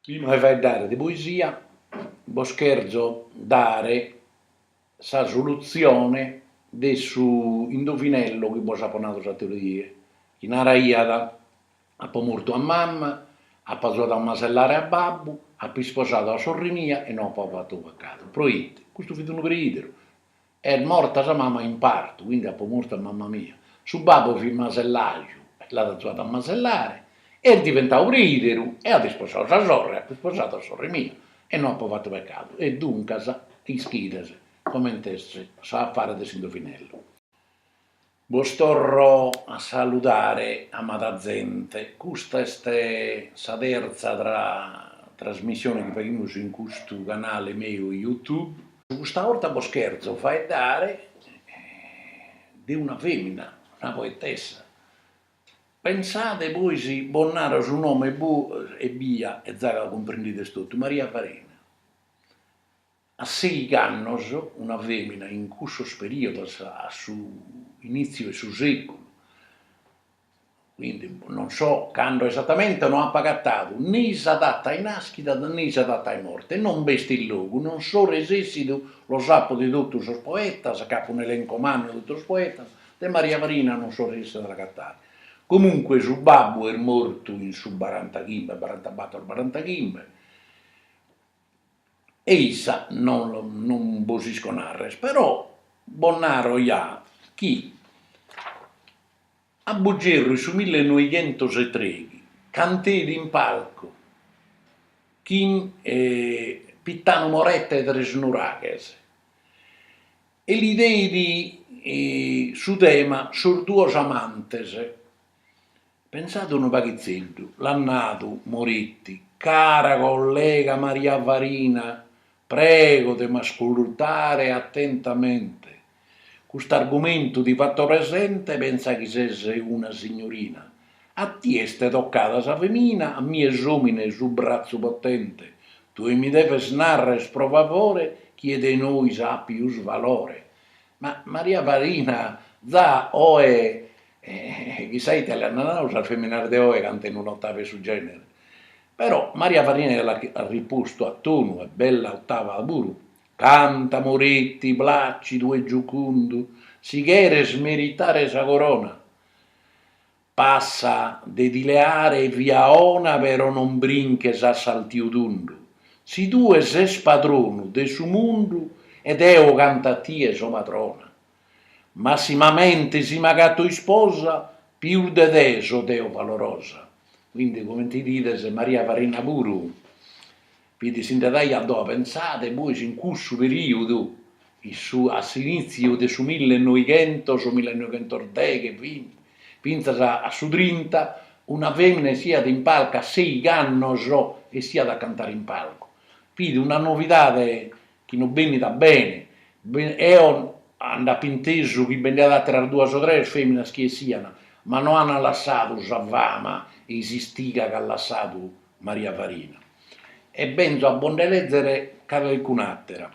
Prima de faeddare de poesia, bos cherzo dare sa solutzione de su indovinello chi bos apo nadu s'atera 'ia, chi naraiat, apo mortu a mama, apo azuadu a masellare a babbu, apo isposadu a sorri mia e no apo fatu pecadu. Proite? Custu fit unu preideru Est morta sa mama in partu, quindi apo mortu a mama mia. Su babbu fit masellaju e l'at azuadu a masellare, est diventadu preideru e at isposadu sa sorre, apo isposadu a sorre mia e no apo fatu pecadu e duncas ischides comente est s'afare de s'indovinellu. Bos torro a saludare amada zente, custa est sa terza trasmissione chi faghimus in custu canale meu YouTube. Custa 'orta bos cherzo faeddare de una femina, una poetessa. Pensade poi si bos naro su nome ebbia e za cumprendides totu, Maria Farina. A seighi annos una fèmina in cussos perìodos a su inìtziu 'e su sèculu, quindi non so cando esatamente, no apo agatadu ne sa data 'e nàschida ne sa data 'e morte e non b'est in logu, non so resèssidu los apo de totu sos poetas, ch'apo un'elenco mannu 'e totu sos poetas, de Maria Farina non so resèssidu a l'agatare. Comunque su babbu est mortu in su barantachimbe, barantabator, barantachimbe, e issa non bos isco narrer però bos naro ja chi a Buggerru in su millenoighentosetreghi canteit in palcu chin Pittanu Moretti 'e Tresnuraghes e li deit su tema Sos duos amantes Pensade unu paghitzeddu, l'at nadu Moretti, Cara collega Maria Farina, prego de m'ascultare attentamente. Cust'argumentu ti fatto presente pensa chi ses una signorina. A tie est toccada sa femina, a mie s'omine su brazzu potente. Tue mi deves narrer pro favore chie de nois at pius valore. Ma Maria Farina za oe E chissà ite l'aian nadu sas feminas de oe cantende un'ottava 'e su genere. Però Maria Farina l'at rispostu a tonu e bella ottava puru, canta Moretti, placidu e giucundu, si cheres meritare sa corona, pensa de ti leare via 'ona però non brinches a saltiu tundu, si tue ses padronu de su mundu e deo cantu a tie so padrona. massimamente si m'agato isposa pius de te so deo valorosa, quindi comente bidides Maria Farina puru fit si nde daiat a doa pensade bois in cussu periudu in su a s'initziu de su millenoighentos millenoghentodeche binti fintzas a su trinta una femina essiat in palcu a seigh'annos essiat a cantare in palcu, fit una novidade chi no benit a bene, eo nd'apo intesu chi bi nd'aiat àteras duas o tres fèminas chi essian, ma no ant lassadu sa fama e s'istiga chi at lassadu Maria Farina, e benzo a bo nde lèzer ca calcun'àtera.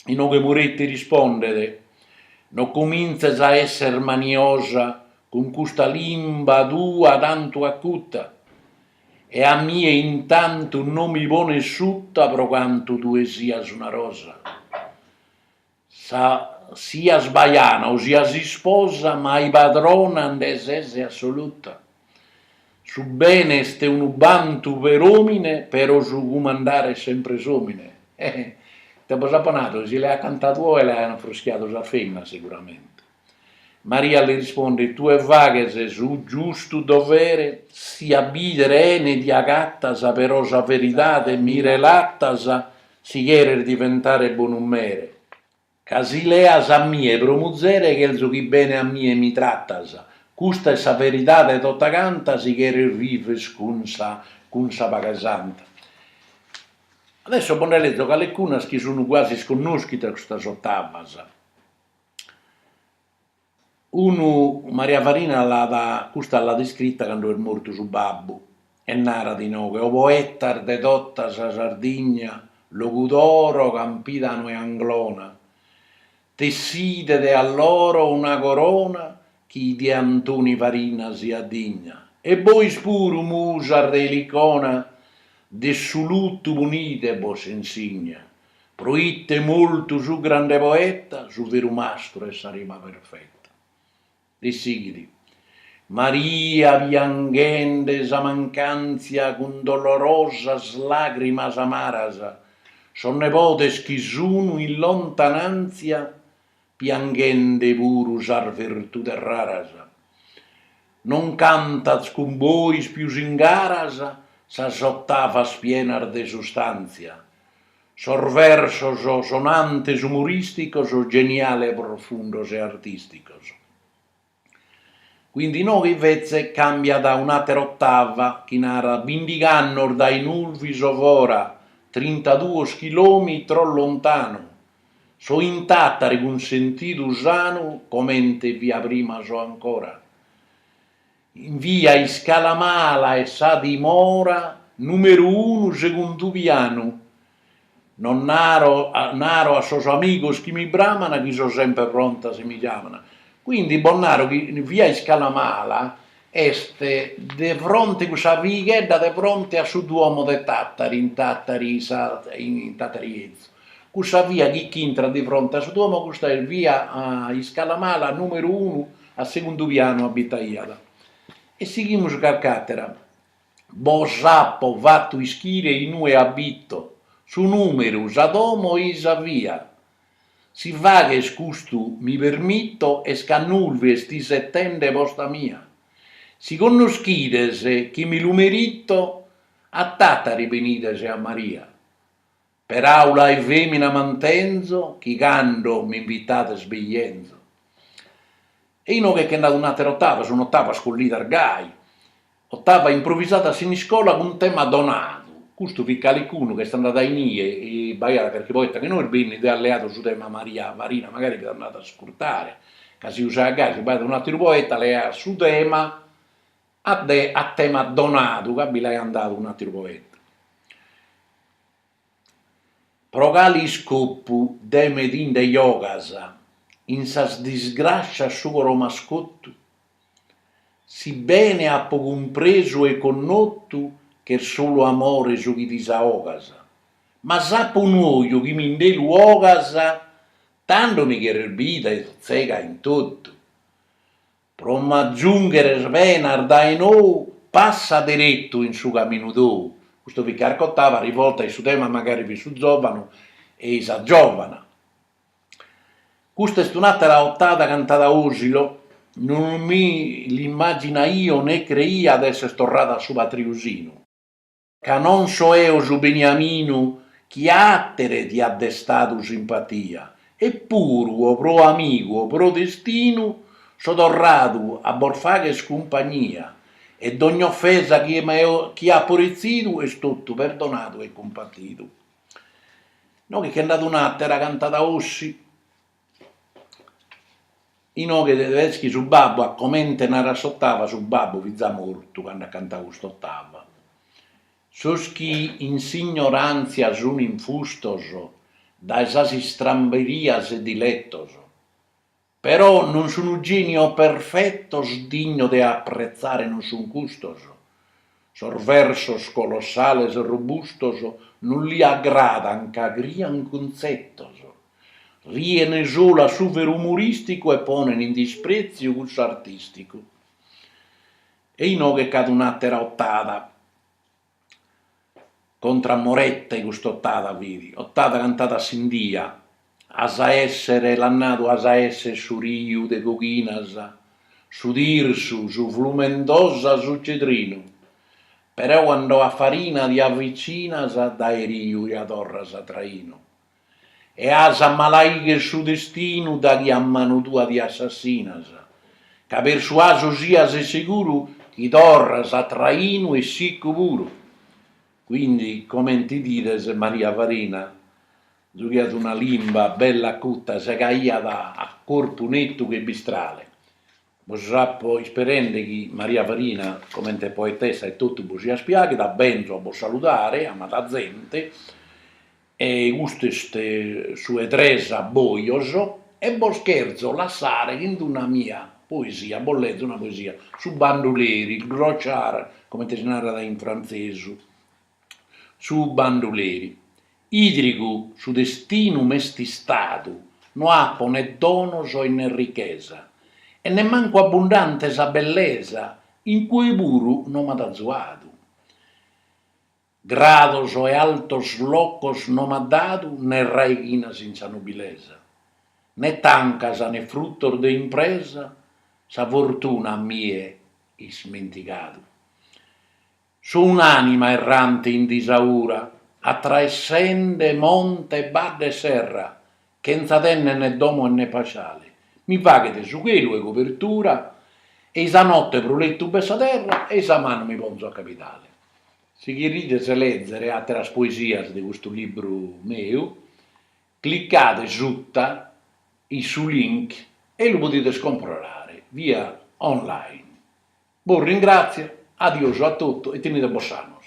Inoghe Moretti rispondet, No comintzes a èsser maniosa cun custa limba tua tantu acuta, e a mie intantu no mi pones sutta pro cantu tue sias una rosa, sa sias bajana o sias isposa mai padrona nde ses assoluta, su bene est unu bantu per omine pero su cumandare est sempre s'omine, eh, ite bos apo nadu, si l'aiat cantadu oe l'aian fruschiadu sas feminas seguramente. Maria li rispondet, Tue faghes su giustu dovere, si a bìdere 'ene ti agatas, però sa veridade mi relatas, si cheres diventare bonu mere, ca si leas a mie pro muzere chelzu chi bene a mie mi tratas, custa est sa veridade tota canta, si cheres vives cun sa cun sa paghe santa. Adesso bos nde lezo calecunas chi sun quasi isconnoschidas custas ottavas. Unu, Maria Farina l'at, custa l'at iscrita cando est mortu su babbu e narat inoghe, o poetas de tota sa Sardigna, Logudoro, Campidanu e Anglona, tesside de alloro una corona chi de Antoni Farina siat digna, e bois puru, musas de Elicona, de su lutu ponide bos insigna, Pro ite est mortu su grande poeta, su veru mastru 'e sa rima perfeta. E sighit, Maria pianghende sa mancàntzia cun dolorosas làgrimas amaras, sos nebodes chi sun in lontanàntzia Pianghende puru sas virtudes raras. Non cantat cun bois pius in garas sas ottavas pienas de sustàntzia, sos versos sonantes umorìsticos, geniales profundos e artìsticos. Quindi inoghe invètze càmbiat a un'àtera otava chi narat, Bindig'annos dae Nulvi so fora, trintaduos chilòmitros lontanu, so in Tàtari cun sentidu sanu comente fia prima so ancora. In via Iscalamala est sa dimora, nùmeru unu, segundu pianu, No naro a sos amigos chi mi bramana chi so semper pronta si mi giamana. Quindi bos naro chi via iscala mala est de fronte cussa vighedda de fronte a su duomo de Tattari in Tattari 'ezu. Cussa via chi ch'intrat de fronte a su duomo custa est via iscala mala numeru unu a segundu pianu abitaiat. E sighimus carch'atera Bos apo fatu ischire in ue abito, su numeru, sa domo e sa via. Si fagher custu mi permito est ca Nulvi est isetende posta mia. Si connoschides chi mi lu merito, a Tatari benides a Maria. Peraula 'e femina mantenzo chi cando m'invitades bi 'enzo. E inoghe che nd'at un'atera otava, sun otavas collidas gai, otava improvisada a Siniscola cun tema donadu, custu fit calicunu ch'est andada in ie e b'aiat carchi poeta chi no est bennidu e at leadu su tema Maria Farina, magari fiat andadu a iscurtare ca si usaiat gai, si b'aiat un'ateru poeta leaiat su tema a de a tema donadu ca bi l'aian dadu un'ateru poeta. Pro cale iscopu de me ti nde giogas in sas disgràscias su coro m'as cotu? Si bene apo cumpresu e connotu ch'est solu amore su chi disaogas, ma s'apo unu oju chi mi nde lu 'ogas tando mi cheres bida e tzega in totu. Pro m'agiungheres penas dae nou passa deretu in su caminu tou. Custu fit carch'otava rivolta e su tema magari fit su zovanu e i sa zovana. Custa est un'atera ottada cantada Osilo, non mi l'immaginaio ne creia de esser torrada a su patriu sinu. Ca non so eo su Beniaminu chi àtere ti at destadu simpatia, e puru o pro amigu o pro destinu so torradu a bos fagher cumpagnia, e dogn'ofesa chi apo retzidu est totu perdonadu e cumpatidu. Inoghe che nd'at un'àtera cantada Ossi, Inoghe Tedeschi su babbu a comente narat s'otava su babbu fit za mortu cando at cantau cust'otava sos chi in s'ignorantzia sun infustos dae sas istramberias e dilettos però non sun genios perfettos dignos de appretzare non sun custos Sos versos colossales robustos non li agradan ca crian cuntzetos, rien solu a su veru umoristicu e ponen in dispreziu cussu artisticu. E inoghe c'at un'atera otada. Contra a Morette cust'otada fidi, otada cantada a Sindia, as a èssere, l'at nadu as a èssere su riu de Coghinas, su Tirsu, su Flumendosa, su Cedrinu, però cando a Farina ti avvicinas dae riu ja torras a trainu, e as a malaigher su destinu daghi a manu tua ti assassinas, ca persuasu sias e seguru chi torras a trainu e siccu puru. Quindi comente idides Maria Farina zughiat una limba bella acuta segaiat a corpu nettu che bistrale. Bos apo isperende chi Maria Farina, comente poetessa e totu, bos siat piaghida, benzo a bos saludare, amada zente, e custu est su 'e tres abboios, e bos cherzo lassare chin una mia poesia, bos lezo una poesia, Su banduleri, il clochard, comente si narat in frantzesu, su banduleri. Idrigu su destinu m'est istadu, no apo ne donos e ne richesa, e nemmancu abbundante sa bellesa in cue puru no m'at azuadu. Grados e altos locos no m'at dadu ne raighinas in sa nobilesa, ne tancas ne fruttos de impresa sa fortuna a mie ismentigadu. So un'anima errante in disaura atraessende monte e badde e serra chentza tenne ne domo e ne pasciale mi faghet su chelu 'e cobertura e i sa notte pro lettu b'est sa terra e i sa manu mi ponzo a capitale. Si cherides lèzere àteras poesias de custu libru meu, clicade suta in su link e lu podides comprare via online. Bos ringràtzio, adiosu a totu e tenidebos sanos.